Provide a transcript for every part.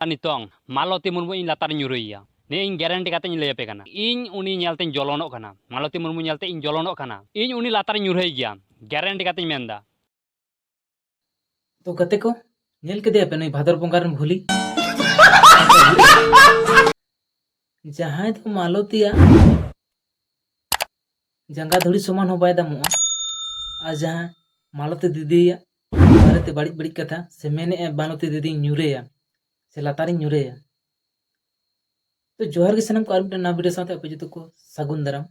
ᱟᱨ ᱱᱤᱛᱚᱝ ᱢᱟᱞᱚᱛᱤ ᱢᱩᱨᱢᱩ ᱤᱧ ᱞᱟᱛᱟᱨ ᱧᱩᱨᱩᱭᱮᱭᱟ ᱱᱤᱭᱟᱹ ᱤᱧ ᱜᱮᱨᱮᱱᱴᱤ ᱠᱟᱛᱮ ᱤᱧ ᱞᱟᱹᱭ ᱟᱯᱮ ᱠᱟᱱᱟ ᱤᱧ ᱩᱱᱤ ᱧᱮᱞᱛᱮᱧ ᱡᱚᱞᱚᱱᱚᱜ ᱠᱟᱱᱟ ᱢᱟᱞᱚᱛᱤ ᱢᱩᱨᱢᱩ ᱧᱮᱞᱛᱮ ᱤᱧ ᱡᱚᱞᱚᱱᱚᱜ ᱠᱟᱱᱟ ᱤᱧ ᱩᱱᱤ ᱞᱟᱛᱟᱨ ᱧᱩᱨᱦᱟᱹᱭ ᱜᱮᱭᱟ ᱜᱮᱨᱮᱱᱴᱤ ᱠᱟᱛᱮᱧ ᱢᱮᱱᱫᱟ ᱛᱚ ᱜᱟᱛᱮ ᱠᱚ ᱧᱮᱞ ᱠᱮᱫᱮᱭᱟ ᱯᱮ ᱱᱩᱭ ᱵᱷᱟᱫᱚᱨ ᱵᱚᱸᱜᱟ ᱨᱮᱱ ᱵᱷᱩᱞᱤ ᱡᱟᱦᱟᱸᱭ ᱫᱚ ᱢᱟᱞᱚᱛᱤᱭᱟᱜ ᱡᱟᱸᱜᱟ ᱫᱷᱩᱲᱤ ᱥᱚᱢᱟᱱ ᱦᱚᱸ ᱵᱟᱭ ᱫᱟᱢᱚᱜᱼᱟ ᱟᱨ ᱡᱟᱦᱟᱸ ᱢᱟᱞᱚᱛᱤ ᱫᱤᱫᱤᱭᱟᱜ ᱵᱟᱨᱮᱛᱮ ᱵᱟᱹᱲᱤᱡ ᱵᱟᱹᱲᱤᱡ ᱠᱟᱛᱷᱟ ᱥᱮ ᱢᱮᱱᱮᱫᱼᱟ ᱢᱟᱞᱚᱛᱤ ᱫᱤᱫᱤᱧ ᱧᱩᱨᱮᱭᱟ ᱥᱮ ᱞᱟᱛᱟᱨᱤᱧ ᱧᱩᱨᱮᱭᱟ ᱛᱚ ᱡᱚᱦᱟᱨ ᱜᱮ ᱥᱟᱱᱟᱢ ᱠᱚ ᱟᱨ ᱢᱤᱫᱴᱟᱝ ᱱᱟᱣᱟ ᱵᱷᱤᱰᱤᱭᱳ ᱥᱟᱶᱛᱮ ᱟᱯᱮ ᱡᱚᱛᱚ ᱠᱚ ᱥᱟᱹᱜᱩᱱ ᱫᱟᱨᱟᱢ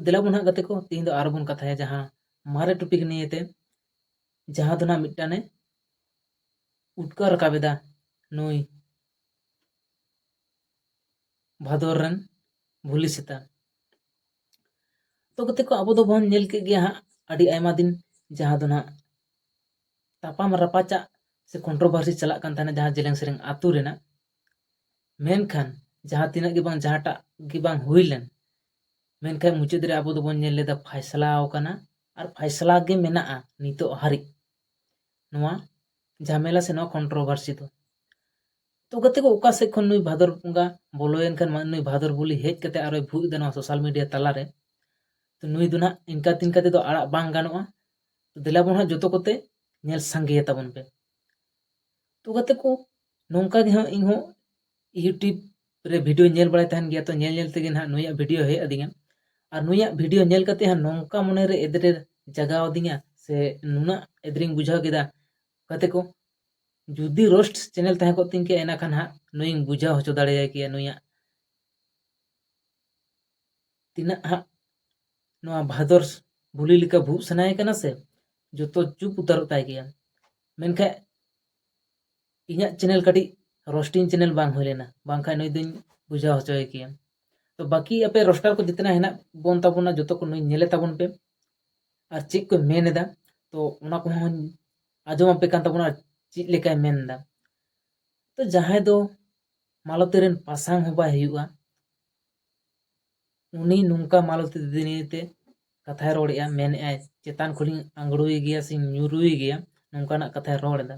ᱫᱮᱞᱟ ᱵᱚᱱ ᱦᱟᱸᱜ ᱜᱟᱛᱮ ᱠᱚ ᱛᱮᱦᱮᱧ ᱫᱚ ᱟᱨᱚ ᱵᱚᱱ ᱠᱟᱛᱷᱟᱭᱟ ᱡᱟᱦᱟᱸ ᱢᱟᱨᱮ ᱴᱚᱯᱤᱠ ᱱᱤᱭᱮᱛᱮ ᱡᱟᱦᱟᱸ ᱫᱚ ᱱᱟᱜ ᱢᱤᱫᱴᱟᱝᱮ ᱩᱴᱠᱟᱹᱣ ᱨᱟᱠᱟᱵ ᱮᱫᱟ ᱱᱩᱭ ᱵᱷᱟᱫᱚᱨ ᱨᱮᱱ ᱵᱷᱩᱞᱤ ᱥᱮᱛᱟ ᱛᱚ ᱠᱟᱛᱮ ᱠᱚ ᱟᱵᱚ ᱫᱚᱵᱚᱱ ᱧᱮᱞ ᱠᱮᱫ ᱜᱮᱭᱟ ᱦᱟᱸᱜ ᱟᱹᱰᱤ ᱟᱭᱢᱟ ᱫᱤᱱ ᱡᱟᱦᱟᱸ ᱫᱚ ᱱᱟᱦᱟᱜ ᱛᱟᱯᱟᱢ ᱨᱟᱯᱟᱪᱟᱜ ᱥᱮ ᱠᱚᱱᱴᱨᱳᱵᱷᱟᱨᱥᱤ ᱪᱟᱞᱟᱜ ᱠᱟᱱ ᱛᱟᱦᱮᱱᱟ ᱡᱟᱦᱟᱸ ᱡᱮᱞᱮᱝ ᱥᱮᱨᱮᱧ ᱟᱛᱳ ᱨᱮᱱᱟᱜ ᱢᱮᱱᱠᱷᱟᱱ ᱡᱟᱦᱟᱸ ᱛᱤᱱᱟᱹᱜ ᱜᱮ ᱵᱟᱝ ᱡᱟᱦᱟᱸᱴᱟᱜ ᱜᱮ ᱵᱟᱝ ᱦᱩᱭ ᱞᱮᱱ ᱢᱮᱱᱠᱷᱟᱱ ᱢᱩᱪᱟᱹᱫ ᱨᱮ ᱟᱵᱚ ᱫᱚᱵᱚᱱ ᱧᱮᱞ ᱞᱮᱫᱟ ᱯᱷᱟᱭᱥᱞᱟ ᱟᱠᱟᱱᱟ ᱟᱨ ᱯᱷᱟᱭᱥᱞᱟ ᱜᱮ ᱢᱮᱱᱟᱜᱼᱟ ᱱᱤᱛᱚᱜ ᱦᱟᱹᱨᱤᱡ ᱱᱚᱣᱟ ᱡᱷᱟᱢᱮᱞᱟ ᱥᱮ ᱱᱚᱣᱟ ᱠᱚᱱᱴᱨᱳᱵᱷᱟᱨᱥᱤ ᱫᱚ ᱛᱚ ᱜᱟᱛᱮ ᱠᱚ ᱚᱠᱟ ᱥᱮᱫ ᱠᱷᱚᱱ ᱱᱩᱭ ᱵᱷᱟᱫᱚᱨ ᱵᱚᱸᱜᱟ ᱵᱚᱞᱚᱭᱮᱱ ᱠᱷᱟᱱ ᱱᱩᱭ ᱵᱷᱟᱫᱚᱨ ᱵᱩᱞᱤ ᱦᱮᱡ ᱠᱟᱛᱮ ᱟᱨᱚᱭ ᱵᱷᱩᱜ ᱮᱫᱟ ᱱᱚᱣᱟ ᱥᱳᱥᱟᱞ ᱢᱤᱰᱤᱭᱟ ᱛᱟᱞᱟᱨᱮ ᱛᱚ ᱱᱩᱭ ᱫᱚ ᱱᱟᱦᱟᱜ ᱤᱱᱠᱟ ᱛᱤᱱᱠᱟ ᱛᱮᱫᱚ ᱟᱲᱟᱜ ᱵᱟᱝ ᱜᱟᱱᱚᱜᱼᱟ ᱛᱚ ᱫᱮᱞᱟ ᱵᱚᱱ ᱦᱟᱸᱜ ᱡᱚᱛᱚ ᱠᱚᱛᱮ ᱧᱮᱞ ᱥᱟᱸᱜᱮᱭᱟ ᱛᱟᱵᱚᱱ ᱯᱮ ᱛᱚ ᱜᱟᱛᱮ ᱠᱚ ᱱᱚᱝᱠᱟ ᱜᱮ ᱦᱟᱸᱜ ᱤᱧ ᱦᱚᱸ ᱤᱭᱩᱴᱤᱭᱩᱵᱽ ᱨᱮ ᱵᱷᱤᱰᱤᱭᱳ ᱧᱮᱞ ᱵᱟᱲᱟᱭ ᱛᱟᱦᱮᱱ ᱜᱮᱭᱟ ᱛᱚ ᱧᱮᱞ ᱧᱮᱞ ᱛᱮᱜᱮ ᱱᱟᱦᱟᱜ ᱱᱩᱭᱟᱜ ᱵᱷᱤᱰᱤᱭᱳ ᱦᱮᱡ ᱟᱹᱫᱤᱧᱟ ᱟᱨ ᱱᱩᱭᱟᱜ ᱵᱷᱤᱰᱤᱭᱳ ᱧᱮᱞ ᱠᱟᱛᱮ ᱦᱟᱸᱜ ᱱᱚᱝᱠᱟ ᱢᱚᱱᱮᱨᱮ ᱮᱫᱽᱨᱮ ᱡᱟᱜᱟᱣ ᱟᱹᱫᱤᱧᱟ ᱥᱮ ᱱᱩᱱᱟᱹᱜ ᱮᱫᱽᱨᱮᱧ ᱵᱩᱡᱷᱟᱹᱣ ᱠᱮᱫᱟ ᱜᱟᱛᱮ ᱠᱚ ᱡᱩᱫᱤ ᱨᱳᱥᱴ ᱪᱮᱱᱮᱞ ᱛᱟᱦᱮᱸ ᱠᱚᱜ ᱛᱤᱧ ᱠᱮᱭᱟ ᱮᱱᱟᱠᱷᱟᱱ ᱦᱟᱸᱜ ᱱᱩᱭᱤᱧ ᱵᱩᱡᱷᱟᱹᱣ ᱦᱚᱪᱚ ᱫᱟᱲᱮᱭᱟᱭ ᱠᱮᱭᱟ ᱱᱩᱭᱟᱜ ᱛᱤᱱᱟᱹᱜ ᱦᱟᱸᱜ ᱱᱚᱣᱟ ᱵᱷᱟᱫᱚᱨ ᱵᱷᱩᱞᱤ ᱞᱮᱠᱟ ᱵᱷᱩᱜ ᱥᱟᱱᱟᱭᱮ ᱠᱟᱱᱟ ᱥᱮ ᱡᱚᱛᱚ ᱪᱩᱯ ᱩᱛᱟᱹᱨᱚᱜ ᱛᱟᱭ ᱜᱮᱭᱟ ᱢᱮᱱᱠᱷᱟᱱ ᱤᱧᱟᱹᱜ ᱪᱮᱱᱮᱞ ᱠᱟᱹᱴᱤᱡ ᱨᱳᱥᱴᱤᱝ ᱪᱮᱱᱮᱞ ᱵᱟᱝ ᱦᱩᱭ ᱞᱮᱱᱟ ᱵᱟᱝᱠᱷᱟᱱ ᱱᱩᱭ ᱫᱚᱧ ᱵᱩᱡᱷᱟᱹᱣ ᱦᱚᱪᱚᱭᱮ ᱠᱮᱭᱟ ᱛᱚ ᱵᱟᱹᱠᱤ ᱟᱯᱮ ᱨᱳᱥᱴᱟᱨ ᱠᱚ ᱡᱤᱛᱱᱟ ᱦᱮᱱᱟᱜ ᱵᱚᱱ ᱛᱟᱵᱚᱱᱟ ᱡᱚᱛᱚ ᱠᱚ ᱱᱩᱭ ᱧᱮᱞᱮ ᱛᱟᱵᱚᱱ ᱯᱮ ᱟᱨ ᱪᱮᱫ ᱠᱚ ᱢᱮᱱ ᱮᱫᱟ ᱛᱚ ᱚᱱᱟ ᱠᱚᱦᱚᱸ ᱟᱸᱡᱚᱢ ᱟᱯᱮ ᱠᱟᱱ ᱛᱟᱵᱚᱱᱟ ᱪᱮᱫ ᱞᱮᱠᱟᱭ ᱢᱮᱱᱫᱟ ᱛᱚ ᱡᱟᱦᱟᱸᱭ ᱫᱚ ᱢᱟᱞᱚᱛᱤ ᱨᱮᱱ ᱯᱟᱥᱟᱝ ᱦᱚᱸ ᱵᱟᱭ ᱦᱩᱭᱩᱜᱼᱟ ᱩᱱᱤ ᱱᱚᱝᱠᱟ ᱢᱟᱞᱚᱛᱤ ᱫᱤᱫᱤ ᱱᱤᱭᱮᱛᱮ ᱠᱟᱛᱷᱟᱭ ᱨᱚᱲᱮᱫᱼᱟ ᱢᱮᱱᱮᱫᱼᱟᱭ ᱪᱮᱛᱟᱱ ᱠᱷᱚᱱᱤᱧ ᱟᱸᱜᱽᱲᱩᱭ ᱜᱮᱭᱟ ᱥᱮᱧ ᱧᱩᱨᱩᱭ ᱜᱮᱭᱟ ᱱᱚᱝᱠᱟᱱᱟᱜ ᱠᱟᱛᱷᱟᱭ ᱨᱚᱲ ᱮᱫᱟ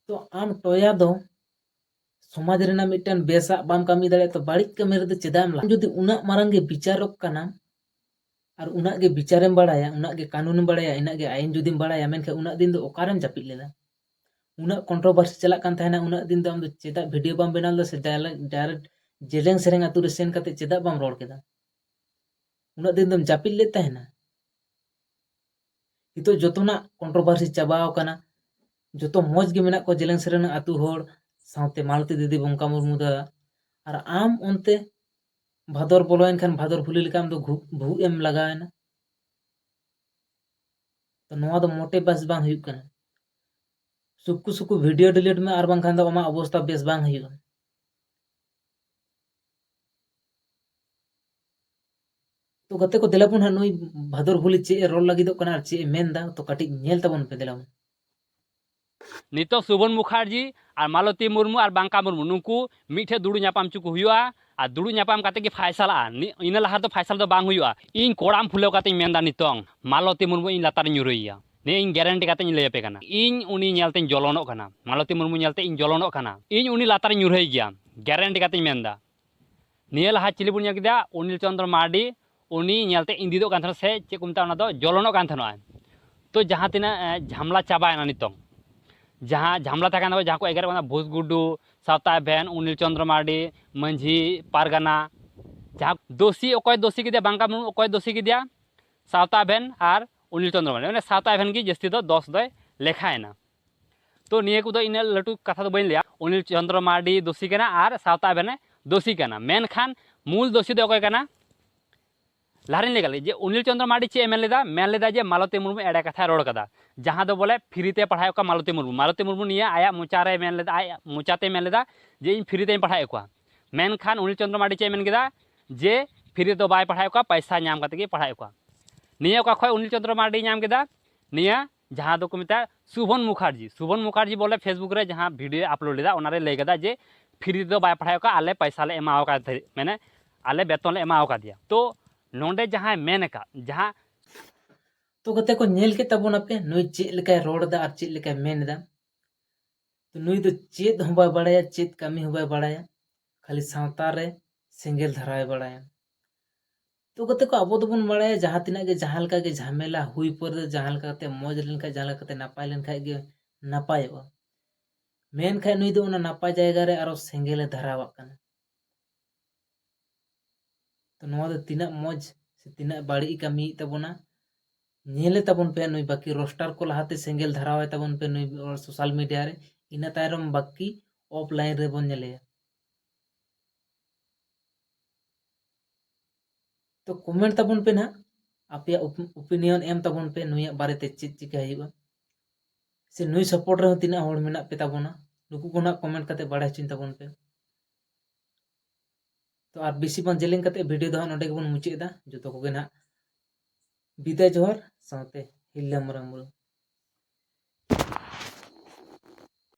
ᱛᱚ ᱟᱢ ᱴᱚᱭᱟ ᱫᱚ ᱥᱚᱢᱟᱡᱽ ᱨᱮᱱᱟᱜ ᱢᱤᱫᱴᱮᱱ ᱵᱮᱥᱟᱜ ᱵᱟᱢ ᱠᱟᱹᱢᱤ ᱫᱟᱲᱮᱭᱟᱜᱼᱟ ᱛᱚ ᱵᱟᱹᱲᱤᱡ ᱠᱟᱹᱢᱤ ᱨᱮᱫᱚ ᱪᱮᱫᱟᱜ ᱮᱢ ᱞᱟᱜᱟᱜᱼᱟ ᱡᱩᱫᱤ ᱩᱱᱟᱹᱜ ᱢᱟᱨᱟᱝ ᱜᱮ ᱵᱤᱪᱟᱨᱚᱠ ᱠᱟᱱᱟᱢ ᱟᱨ ᱩᱱᱟᱹᱜ ᱜᱮ ᱵᱤᱪᱟᱨᱮᱢ ᱵᱟᱲᱟᱭᱟ ᱩᱱᱟᱹᱜ ᱜᱮ ᱠᱟᱹᱱᱩᱱᱮᱢ ᱵᱟᱲᱟᱭᱟ ᱤᱱᱟᱹᱜ ᱜᱮ ᱟᱹᱭᱤᱱ ᱡᱩᱫᱤᱢ ᱵᱟᱲᱟᱭᱟ ᱢᱮᱱᱠᱷᱟᱱ ᱩᱱᱟᱹᱜ ᱫᱤᱱ ᱫᱚ ᱚᱠᱟᱨᱮᱢ ᱡᱟᱹᱯᱤᱫ ᱞᱮᱫᱟ ᱩᱱᱟᱹᱜ ᱠᱚᱱᱴᱨᱚᱵᱷᱟᱨᱥᱤ ᱪᱟᱞᱟᱜ ᱠᱟᱱ ᱛᱟᱦᱮᱱᱟ ᱩᱱᱟᱹᱜ ᱫᱤᱱ ᱫᱚ ᱟᱢ ᱫᱚ ᱪᱮᱫᱟᱜ ᱵᱷᱤᱰᱤᱭᱳ ᱵᱟᱢ ᱵᱮᱱᱟᱣ ᱞᱮᱫᱟ ᱥᱮ ᱰᱟᱭᱨᱮᱠᱴ ᱡᱮᱞᱮᱝ ᱥᱮᱨᱮᱝ ᱟᱛᱳ ᱨᱮ ᱥᱮᱱ ᱠᱟᱛᱮ ᱪᱮᱫᱟᱜ ᱵᱟᱢ ᱨᱚᱲ ᱠᱮᱫᱟ ᱩᱱᱟᱹᱜ ᱫᱤᱱ ᱫᱚᱢ ᱡᱟᱹᱯᱤᱫ ᱞᱮᱫ ᱛᱟᱦᱮᱱᱟ ᱱᱤᱛᱚᱜ ᱡᱚᱛᱚᱱᱟᱜ ᱠᱚᱱᱴᱨᱚᱵᱷᱟᱨᱥᱤ ᱪᱟᱵᱟᱣ ᱠᱟᱱᱟ ᱡᱚᱛᱚ ᱢᱚᱡᱽ ᱜᱮ ᱢᱮᱱᱟᱜ ᱠᱚᱣᱟ ᱡᱮᱞᱮᱝ ᱥᱮᱨᱮᱝ ᱟᱛᱳ ᱦᱚᱲ ᱥᱟᱶᱛᱮ ᱢᱟᱞᱚᱛᱤ ᱫᱤᱫᱤ ᱵᱚᱝᱠᱟ ᱢᱩᱨᱢᱩ ᱫᱟ ᱟᱨ ᱟᱢ ᱚᱱᱛᱮ ᱵᱷᱟᱫᱚᱨ ᱵᱚᱞᱚᱭᱮᱱ ᱠᱷᱟᱱ ᱵᱷᱟᱫᱚᱨ ᱵᱷᱩᱞᱤ ᱞᱮᱠᱟ ᱟᱢᱫᱚ ᱜᱷᱩᱜ ᱵᱷᱩᱜ ᱮᱢ ᱞᱟᱜᱟᱣᱮᱱᱟ ᱛᱚ ᱱᱚᱣᱟ ᱫᱚ ᱢᱚᱴᱮ ᱵᱮᱥ ᱵᱟᱝ ᱦᱩᱭᱩᱜ ᱠᱟᱱᱟ ᱥᱩᱠᱩ ᱥᱩᱠᱩ ᱵᱷᱤᱰᱤᱭᱳ ᱰᱤᱞᱤᱴ ᱢᱮ ᱟᱨ ᱵᱟᱝᱠᱷᱟᱱ ᱫᱚ ᱟᱢᱟᱜ ᱚᱵᱚᱥᱛᱟ ᱵᱮᱥ ᱵᱟᱝ ᱦᱩᱭᱩᱜᱼᱟ ᱛᱚ ᱜᱟᱛᱮ ᱠᱚ ᱫᱮᱞᱟᱵᱚᱱ ᱦᱟᱸᱜ ᱱᱩᱭ ᱵᱷᱟᱫᱚᱨ ᱵᱷᱩᱞᱤ ᱪᱮᱫ ᱮ ᱨᱚᱲ ᱞᱟᱹᱜᱤᱫᱚᱜ ᱠᱟᱱᱟ ᱟᱨ ᱪᱮᱫ ᱮ ᱢᱮᱱᱫᱟ ᱛᱚ ᱠᱟᱹᱴᱤᱡ ᱧᱮᱞ ᱛᱟᱵᱚᱱ ᱯᱮ ᱫᱮᱞᱟᱵᱚᱱ ᱱᱤᱛᱚᱜ ᱥᱩᱵᱷᱚᱱ ᱢᱩᱠᱷᱟᱨᱡᱤ ᱟᱨ ᱢᱟᱞᱚᱛᱤ ᱢᱩᱨᱢᱩ ᱟᱨ ᱵᱟᱝᱠᱟ ᱢᱩᱨᱢᱩ ᱱᱩᱠᱩ ᱢᱤᱫᱴᱷᱮᱱ ᱫᱩᱲᱩᱵ ᱧᱟᱯᱟᱢ ᱦᱚᱪᱚ ᱠᱚ ᱦᱩᱭᱩᱜᱼᱟ ᱟᱨ ᱫᱩᱲᱩᱵ ᱧᱟᱯᱟᱢ ᱠᱟᱛᱮ ᱜᱮ ᱯᱷᱟᱭᱥᱟᱞᱟᱜᱼᱟ ᱤᱱᱟᱹ ᱞᱟᱦᱟ ᱨᱮᱫᱚ ᱯᱷᱟᱭᱥᱟᱞ ᱫᱚ ᱵᱟᱝ ᱦᱩᱭᱩᱜᱼᱟ ᱤᱧ ᱠᱚᱲᱟᱢ ᱯᱷᱩᱞᱟᱹᱣ ᱠᱟᱛᱮᱧ ᱢᱮᱱᱫᱟ ᱱᱤᱛᱚᱝ ᱢᱟᱞᱚᱛᱤ ᱢᱩᱨᱢᱩ ᱤᱧ ᱞᱟᱛᱟᱨᱤᱧ ᱧᱩᱨᱩᱭᱮᱭᱟ ᱱᱤᱭᱟᱹ ᱤᱧ ᱜᱮᱨᱮᱱᱴᱤ ᱠᱟᱛᱮᱧ ᱞᱟᱹᱭ ᱟᱯᱮ ᱠᱟᱱᱟ ᱤᱧ ᱩᱱᱤ ᱧᱮᱞᱛᱮᱧ ᱡᱚᱞᱚᱱᱚᱜ ᱠᱟᱱᱟ ᱢᱟᱞᱚᱛᱤ ᱢᱩᱨᱢᱩ ᱧᱮᱞᱛᱮ ᱤᱧ ᱡᱚᱞᱚᱱᱚᱜ ᱠᱟᱱᱟ ᱤᱧ ᱩᱱᱤ ᱞᱟᱛᱟᱨᱤᱧ ᱧᱩᱨᱦᱟᱹᱭ ᱜᱮᱭᱟ ᱜᱮᱨᱮᱱᱴᱤ ᱠᱟᱛᱮᱧ ᱢᱮᱱᱫᱟ ᱱᱤᱭᱟᱹ ᱞᱟᱦᱟ ᱪᱤᱞᱤ ᱵᱚᱱ ᱧᱮᱞ ᱠᱮᱫᱟ ᱚᱱᱤᱞ ᱪᱚᱱᱫᱨᱚ ᱢᱟᱨᱰᱤ ᱩᱱᱤ ᱧᱮᱞᱛᱮ ᱤᱸᱫᱤᱫᱚᱜ ᱠᱟᱱ ᱛᱟᱦᱮᱱᱟ ᱥᱮ ᱪᱮᱫ ᱠᱚ ᱢᱮᱛᱟᱜᱼᱟ ᱚᱱᱟ ᱫᱚ ᱡᱚᱞᱚᱱᱚᱜ ᱠᱟᱱ ᱛᱟᱦᱮᱱᱚᱜᱼᱟ ᱛᱚ ᱡᱟᱦᱟᱸ ᱛᱤᱱᱟᱹᱜ ᱡᱷᱟᱢᱞᱟ ᱪᱟᱵᱟᱭᱮᱱᱟ ᱱᱤᱛᱚᱝ ᱡᱟᱦᱟᱸ ᱡᱷᱟᱢᱞᱟ ᱛᱟᱦᱮᱸ ᱠᱟᱱ ᱛᱟᱠᱚᱣᱟ ᱡᱟᱦᱟᱸ ᱠᱚ ᱮᱜᱮᱨᱚᱜ ᱠᱟᱱᱟ ᱵᱷᱩᱥ ᱜᱩᱰᱩ ᱥᱟᱶᱛᱟ ᱵᱷᱮᱱ ᱚᱱᱤᱞ ᱪᱚᱱᱫᱨᱚ ᱢᱟᱨᱰᱤ ᱢᱟᱹᱡᱷᱤ ᱯᱟᱨᱜᱟᱱᱟ ᱡᱟᱦᱟᱸ ᱫᱳᱥᱤ ᱚᱠᱚᱭ ᱫᱳᱥᱤ ᱠᱮᱫᱮᱭᱟ ᱵᱟᱝᱠᱟ ᱢᱩᱨᱢᱩ ᱚᱠᱚᱭ ᱫᱳᱥᱤ ᱠᱮᱫᱮᱭᱟ ᱥᱟᱶᱛᱟ ᱵᱷᱮᱱ ᱟᱨ ᱚᱱᱤᱞ ᱪᱚᱱᱫᱨᱚ ᱢᱟᱨᱰᱤ ᱢᱟᱱᱮ ᱥᱟᱶᱛᱟ ᱵᱷᱮᱱ ᱜᱮ ᱡᱟᱹᱥᱛᱤ ᱫᱚ ᱫᱚᱥ ᱫᱚᱭ ᱞᱮᱠᱷᱟᱭᱮᱱᱟ ᱛᱚ ᱱᱤᱭᱟᱹ ᱠᱚᱫᱚ ᱤᱱᱟᱹᱜ ᱞᱟᱹᱴᱩ ᱠᱟᱛᱷᱟ ᱫᱚ ᱵᱟᱹᱧ ᱞᱟᱹᱭᱟ ᱚᱱᱤᱞ ᱪᱚᱱᱫᱨᱚ ᱢᱟᱨᱰᱤ ᱫᱳᱥᱤ ᱠᱟᱱᱟ ᱟᱨ ᱥᱟᱶᱛᱟ ᱵᱮᱱᱮ ᱫᱳᱥᱤ ᱠᱟᱱᱟ ᱢᱮᱱᱠᱷᱟᱱ ᱢᱩᱞ ᱫᱳᱥᱤ ᱫᱚ ᱚᱠᱚᱭ ᱠᱟᱱᱟ ᱞᱟᱦᱟᱨᱤᱧ ᱞᱟᱹᱭ ᱠᱟᱫᱟ ᱡᱮ ᱚᱱᱤᱞ ᱪᱚᱱᱫᱨᱚ ᱢᱟᱨᱰᱤ ᱪᱮᱫ ᱮ ᱢᱮᱱ ᱞᱮᱫᱟ ᱢᱮᱱ ᱞᱮᱫᱟ ᱡᱮ ᱢᱟᱞᱚᱛᱤ ᱢᱩᱨᱢᱩ ᱮᱲᱮ ᱠᱟᱛᱷᱟᱭ ᱨᱚᱲ ᱠᱟᱫᱟ ᱡᱟᱦᱟᱸ ᱫᱚ ᱵᱚᱞᱮ ᱯᱷᱨᱤᱛᱮ ᱯᱟᱲᱦᱟᱣᱮᱫ ᱠᱚᱣᱟ ᱢᱟᱞᱚᱛᱤ ᱢᱩᱨᱢᱩ ᱢᱟᱞᱚᱛᱤ ᱢᱩᱨᱢᱩ ᱱᱤᱭᱟᱹ ᱟᱭᱟᱜ ᱢᱚᱪᱟᱨᱮ ᱢᱮᱱ ᱞᱮᱫᱟ ᱟᱡ ᱢᱚᱪᱟᱛᱮ ᱢᱮᱱ ᱞᱮᱫᱟ ᱡᱮ ᱤᱧ ᱯᱷᱨᱤᱛᱮᱧ ᱯᱟᱲᱦᱟᱣᱮᱫ ᱠᱚᱣᱟ ᱢᱮᱱᱠᱷᱟᱱ ᱚᱱᱤᱞ ᱪᱚᱱᱫᱨᱚ ᱢᱟᱨᱰᱤ ᱪᱮᱫ ᱮ ᱢᱮᱱ ᱠᱮᱫᱟ ᱡᱮ ᱯᱷᱨᱤ ᱫᱚ ᱵᱟᱭ ᱯᱟᱲᱦᱟᱣᱮᱫ ᱠᱚᱣᱟ ᱯᱟᱭᱥᱟ ᱧᱟᱢ ᱠᱟᱛᱮ ᱜᱮ ᱯᱟᱲᱦᱟᱣᱮᱫ ᱠᱚᱣᱟ ᱱᱤᱭᱟᱹ ᱚᱠᱟ ᱠᱷᱚᱡ ᱚᱱᱤᱞ ᱪᱚᱱᱫᱨᱚ ᱢᱟᱨᱰᱤ ᱧᱟᱢ ᱠᱮᱫᱟ ᱱᱤᱭᱟᱹ ᱡᱟᱦᱟᱸ ᱫᱚᱠᱚ ᱢᱮᱛᱟᱜᱼᱟ ᱥᱩᱵᱷᱚᱱ ᱢᱩᱠᱷᱟᱨᱡᱤ ᱥᱩᱵᱷᱚᱱ ᱢᱩᱠᱷᱟᱨᱡᱤ ᱵᱚᱞᱮ ᱯᱷᱮᱥᱵᱩᱠ ᱨᱮ ᱡᱟᱦᱟᱸ ᱵᱷᱤᱰᱤᱭᱳ ᱟᱯᱞᱳᱰ ᱞᱮᱫᱟ ᱚᱱᱟᱨᱮ ᱞᱟᱹᱭ ᱠᱮᱫᱟ ᱡᱮ ᱯᱷᱨᱤ ᱫᱚ ᱵᱟᱭ ᱯᱟᱲᱦᱟᱣ ᱠᱟᱜᱼᱟ ᱟᱞᱮ ᱯᱚᱭᱥᱟ ᱞᱮ ᱮᱢᱟᱣ ᱠᱟᱫ ᱛᱟᱦᱮᱸᱫ ᱢᱟᱱᱮ ᱟᱞᱮ ᱵᱮᱛᱚᱱ ᱞᱮ ᱮᱢᱟᱣ ᱠᱟᱫᱮᱭᱟ ᱛᱚ ᱱᱚᱰᱮ ᱡᱟᱦᱟᱸᱭ ᱢᱮᱱ ᱟᱠᱟᱫ ᱡᱟᱦᱟᱸ ᱛᱚ ᱜᱟᱛᱮ ᱠᱚ ᱧᱮᱞ ᱠᱮᱫ ᱛᱟᱵᱚᱱᱟᱯᱮ ᱱᱩᱭ ᱪᱮᱫ ᱞᱮᱠᱟᱭ ᱨᱚᱲ ᱮᱫᱟ ᱟᱨ ᱪᱮᱫ ᱞᱮᱠᱟᱭ ᱢᱮᱱ ᱮᱫᱟ ᱛᱚ ᱱᱩᱭ ᱫᱚ ᱪᱮᱫ ᱦᱚᱸ ᱵᱟᱭ ᱵᱟᱲᱟᱭᱟ ᱪᱮᱫ ᱠᱟᱹᱢᱤ ᱦᱚᱸ ᱵᱟᱭ ᱵᱟᱲᱟᱭᱟ ᱠᱷᱟᱹᱞᱤ ᱥᱟᱶᱛᱟ ᱨᱮ ᱥᱮᱸᱜᱮᱞ ᱫᱷᱟᱨᱟᱣᱮ ᱵᱟᱲᱟᱭᱟ ᱛᱚ ᱠᱟᱛᱮ ᱠᱚ ᱟᱵᱚ ᱫᱚᱵᱚᱱ ᱵᱟᱲᱟᱭᱟ ᱡᱟᱦᱟᱸ ᱛᱤᱱᱟᱹᱜ ᱜᱮ ᱡᱟᱦᱟᱸ ᱞᱮᱠᱟ ᱜᱮ ᱡᱷᱟᱢᱮᱞᱟ ᱦᱩᱭ ᱯᱚᱨ ᱫᱚ ᱡᱟᱦᱟᱸ ᱞᱮᱠᱟ ᱠᱟᱛᱮ ᱢᱚᱡᱽ ᱞᱮᱱᱠᱷᱟᱡ ᱡᱟᱦᱟᱸ ᱞᱮᱠᱟ ᱠᱟᱛᱮ ᱱᱟᱯᱟᱭ ᱞᱮᱱᱠᱷᱟᱡ ᱜᱮ ᱱᱟᱯᱟᱭᱚᱜᱼᱟ ᱢᱮᱱᱠᱷᱟᱡ ᱱᱩᱭ ᱫᱚ ᱚᱱᱟ ᱱᱟᱯᱟᱭ ᱡᱟᱭᱜᱟ ᱨᱮ ᱟᱨᱚ ᱥᱮᱸᱜᱮᱞᱮ ᱫᱷᱟᱨᱟᱣᱟᱜ ᱠᱟᱱᱟ ᱛᱚ ᱱᱚᱣᱟ ᱫᱚ ᱛᱤᱱᱟᱹᱜ ᱢᱚᱡᱽ ᱥᱮ ᱛᱤᱱᱟᱹᱜ ᱵᱟᱹᱲᱤᱡ ᱠᱟᱹᱢᱤᱭᱮᱫ ᱛᱟᱵᱚᱱᱟ ᱧᱮᱞᱮ ᱛᱟᱵᱚᱱ ᱯᱮ ᱱᱩᱭ ᱵᱟᱹᱠᱤ ᱨᱳᱥᱴᱟᱨ ᱠᱚ ᱞᱟᱦᱟᱛᱮ ᱥᱮᱸᱜᱮᱞ ᱫᱷᱟᱨᱟᱣᱟᱭ ᱛᱟᱵᱚᱱ ᱯᱮ ᱱᱩᱭ ᱥᱳᱥᱟᱞ ᱢᱤᱰᱤᱭᱟ ᱨᱮ ᱤᱱᱟᱹ ᱛᱟᱭᱱᱚᱢ ᱵᱟᱹᱠᱤ ᱚᱯᱷᱞᱟᱭᱤᱱ ᱨᱮᱵᱚᱱ ᱧᱮᱞᱮᱭᱟ ᱛᱚ ᱠᱚᱢᱮᱱᱴ ᱛᱟᱵᱚᱱ ᱯᱮ ᱱᱟᱦᱟᱜ ᱟᱯᱮᱭᱟᱜ ᱚᱯᱤᱱᱤᱭᱚᱱ ᱮᱢ ᱛᱟᱵᱚᱱ ᱯᱮ ᱱᱩᱭᱟᱜ ᱵᱟᱨᱮᱛᱮ ᱪᱮᱫ ᱪᱤᱠᱟ ᱦᱩᱭᱩᱜᱼᱟ ᱥᱮ ᱱᱩᱭ ᱥᱟᱯᱳᱨᱴ ᱨᱮᱦᱚᱸ ᱛᱤᱱᱟᱹᱜ ᱦᱚᱲ ᱢᱮᱱᱟᱜ ᱯᱮ ᱛᱟᱵᱚᱱᱟ ᱱᱩᱠᱩ ᱠᱚ ᱱᱟᱦᱟᱜ ᱠᱚᱢᱮᱱᱴ ᱠᱟᱛᱮ ᱵᱟᱲᱟᱭ ᱦᱚᱪᱚᱧ ᱛᱟᱵᱚᱱ ᱯᱮ ᱛᱚ ᱟᱨ ᱵᱮᱥᱤ ᱵᱟᱝ ᱡᱮᱞᱮᱧ ᱠᱟᱛᱮ ᱵᱷᱤᱰᱤᱭᱳ ᱫᱚ ᱦᱟᱸᱜ ᱱᱚᱰᱮ ᱜᱮᱵᱚᱱ ᱢᱩᱪᱟᱹᱫ ᱮᱫᱟ ᱡᱚᱛᱚ ᱠᱚᱜᱮ ᱱᱟᱦᱟᱜ ᱵᱤᱫᱟᱭ ᱡᱚᱦᱟᱨ ᱥᱟᱶᱛᱮ ᱦᱤᱞᱞᱟᱹ ᱢᱟᱨᱟᱝ ᱵᱩᱨᱩ